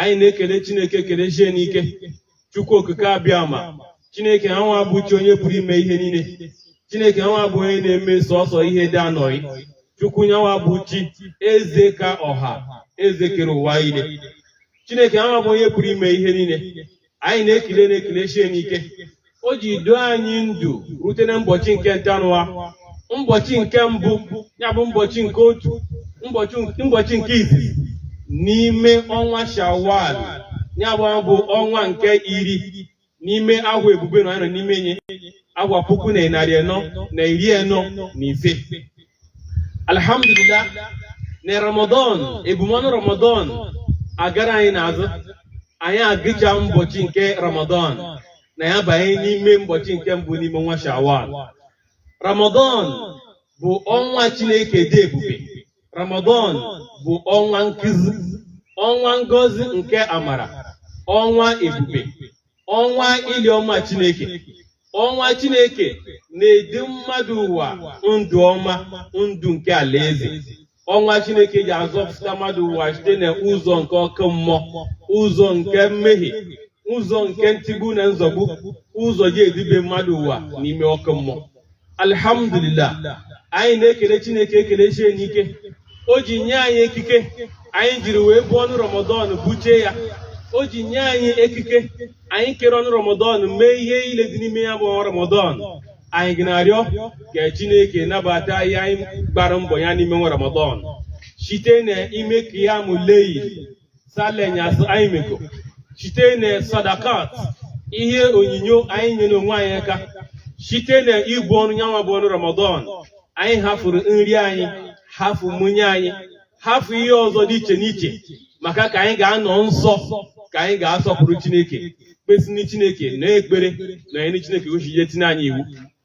anyị na-ekele Chineke ekele sie n'ike Chukwu okike abịama Chineke anwa bụ chi onye pụrụ ime ihe niile Chineke anwa bụ onye na-eme sọsọ ihe dị anọghị Chukwu nyanwa bụ chi eze ka ọha eze kere ụwa ile Chineke anwa bụ onye pụrụ ime ihe niile anyị na-ekele na-ekele sie n'ike o ji doo anyị ndụ rute na mbọchị nke ntanụwa mbọchị nke mbụ ya bụ mbọchị nke otu mbọchị nke izizi n'ime ọnwa shawwal ya bụ bụ ọnwa nke iri n'ime agwa ebube na anyị nọ n'ime nye agwa puku na narị anọ na iri anọ na ise alhamdulillah na ramadan ebumọnụ ramadan agara anyị n'azụ anyị agụcha mbọchị nke ramadan na ya banye n'ime mbọchị nke mbụ n'ime ọnwa shawwal ramadan bụ ọnwa chineke dị ebube ramadan bụ ọnwa nkuzi ọnwa ngozi nke amara ọnwa ebube ọnwa ili ọma Chineke ọnwa Chineke na-edu mmadụ ụwa ndụ ọma ndụ nke alaeze ọnwa Chineke ji azọpụta mmadụ ụwa site na ụzọ nke ọkụ mmụọ ụzọ nke mmehie ụzọ nke ntigbu na nzọgbu ụzọ ji edube mmadụ ụwa n'ime ọkụ mmụọ alhamdulillah anyị na-ekele chineke ekele sie n'ike o ji nye anyị ekike anyị jiri wee buo ọnụ ramadan buchie ya o ji nye anyị ekike anyị kere ọnụ ramadan mee ihe ile dị n'ime ya bụ ọnwa ramadan anyị ga na-arịọ ka chineke nabata ihe anyị gbara mbọ ya n'ime ọnwa ramadan site na ime qiyamul layl sala enyasị anyị meko site na sadakat ihe onyinyo anyị nyere onwe anyị aka site na ibu ọnụ nyanwa bụ ọnụ ramadan anyị hafụrụ nri anyị hafụ mmụnye anyị hafụ ihe ọzọ dị iche n'iche maka ka anyị ga-anọ nsọ ka anyị ga-asọpụrụ chineke kpesini chineke na ekpere na anyị chineke o si je tinye anyị iwu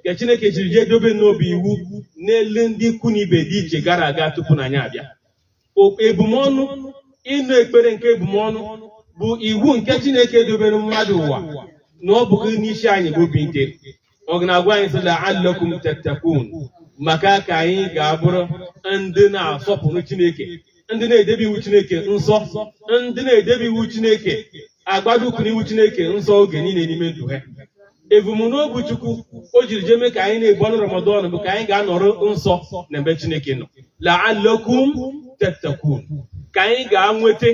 nke Chineke jiri jee dobe na ọ bụ iwu n'elu ndị ikwu na ibe dị iche gara aga tupu na anyị abịa ebumọnụ ịnụ ekpere nke ebumọnụ bụ iwu nke Chineke dobere mmadụ ụwa na ọ bụghị n'isi anyị bụ obi nke ọ na-agwa anyị sị la'allakum tattaqun maka ka anyị ga-abụrụ ndị na-asọpụrụ Chineke ndị na-edebe iwu Chineke nsọ ndị na-edebe iwu Chineke agbado ụkwụ n'iwu Chineke nsọ oge niile n'ime ndụ ha ebumnobi Chukwu o jiri jee mee ka anyị na-ebu ọnụ Ramadan bụ ka anyị ga-anọrọ nsọ n'ebe Chineke nọ la'allakum tattaqun ka anyị ga-anweta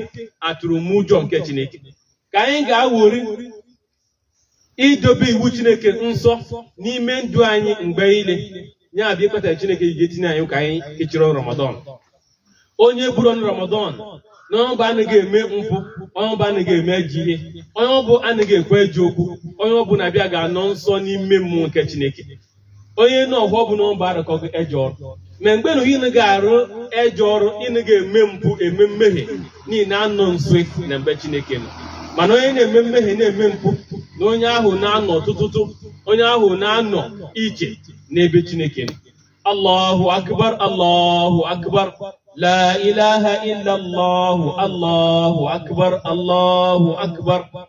atụrụmụjọ nke Chineke ka anyị ga-awori idobe iwu chineke nsọ n'ime ndụ anyị mgbe niile ya bụ ihe kpatara chineke ji etinye anyị ka anyị kechiri ọnụ ramadan onye buru ọnụ ramadan na onye ọ bụ anaghị eme mpụ onye ọ bụ anaghị eme ejọ ihe onye ọ bụ anaghị ekwu ejọ okwu onye ọ bụ na-abịa ga-anọ nsọ n'ime mmụọ nke chineke onye nọ ọhụọ bụ na ọ bụ arụkọghị ejọ ọrụ ma mgbe na unu ga-arụ ejọ ọrụ unu ga-eme mpụ eme mmehie na ị na-anọ nso n'ebe chineke nọ mana onye na-eme mmehie na-eme mpụ na onye ahụ na-anọ tụtụtụ onye ahụ na-anọ iche n'ebe chineke nọ allahu akbar allahu akbar la ilaha illallah allahu akbar allahu akbar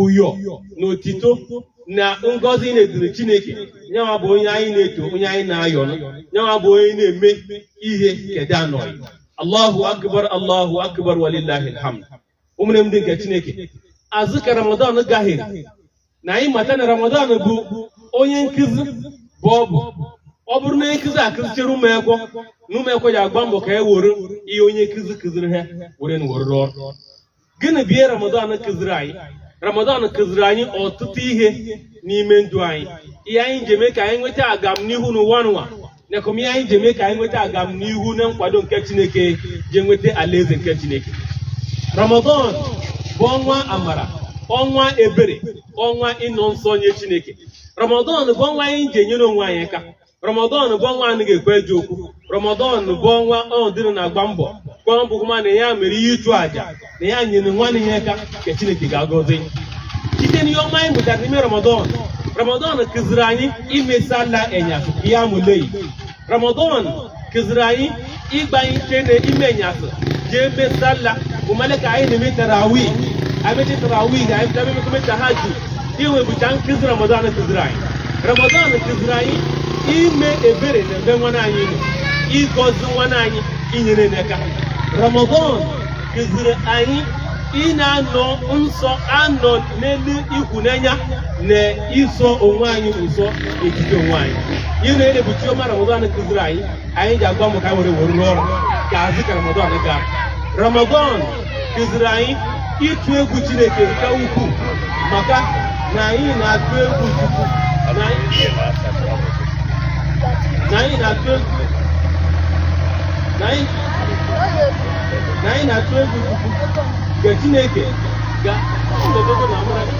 ụyọ na otito na ngọzi na-eduru Chineke nyawa bụ onye anyị na-eto onye anyị na-ayọ nyawa bụ onye na-eme ihe kedanọị Allahu akbar Allahu akbar walillahi alhamd ụmụnne m ndị nke Chineke azụ ka Ramadan gahere na anyị mata na Ramadan bụ onye nkụzi bụ ọ bụ ọ bụrụ na onye nkụzi akụzichere ụmụekwọ na ụmụekwọ ji agba mbọ ka e were ihe onye nkụzi kụziri ha were na were rụọ ọrụ gịnị bụ ihe ramadan kụziri anyị ramadan kụziri anyị ọtụtụ ihe n'ime ndụ anyị ihe anyị ji eme ka anyị nweta agamnihu n'ụwa n'ụwa nakwa ihe anyị ji eme ka anyị nweta agamnihu na nkwado nke chineke ji nweta alaeze nke chineke ramadan bụ ọnwa amara ọnwa ebere ọnwa ịnọ nsọ nye chineke ramadan bụ ọnwa anyị ji enyere onwe anyị aka ramadan bụ ọnwa a ga-ekwu ejọ okwu ramadan bụ ọnwa ọdịrị na-agba mbọ gwa mbụ ma na ya mere ihe ịchụ àjà na ya nyere nwanne ya aka ka chineke ga-agọzi site n'ihe ọma anyị mụtara n'ime ramadan ramadan kụziri anyị ime sala enyasị qiyamul layl ramadan kụziri anyị ịgbalite n'ime enyasị jee mee sala ụmale ka anyị na-eme tarawi anyị mechi tarawi ga anyị bịa mekome tahajud iwe bụcha nkụzi ramadan kụziri anyị ramadan kụziri anyị ime ebere na ebe nwanne anyị nọ ịgọzi nwanne anyị inyere n'aka ramadan kụziri anyị ị na-anọ nsọ anọ n'elu ịhụnanya na iso onwe anyị ụzọ ejide onwe anyị ihe niile bụcha ihe ọma ramadan kụziri anyị anyị ji agba mbọ ka were were rụọ ọrụ ka azụ ka ramadan gaa ramadan kụziri anyị ịtụ egwu chineke nke ukwuu maka na anyị na-atụ egwu chukwu na anyị na-atụ egwu na anyị na-atụ egwu chukwu nke chineke ga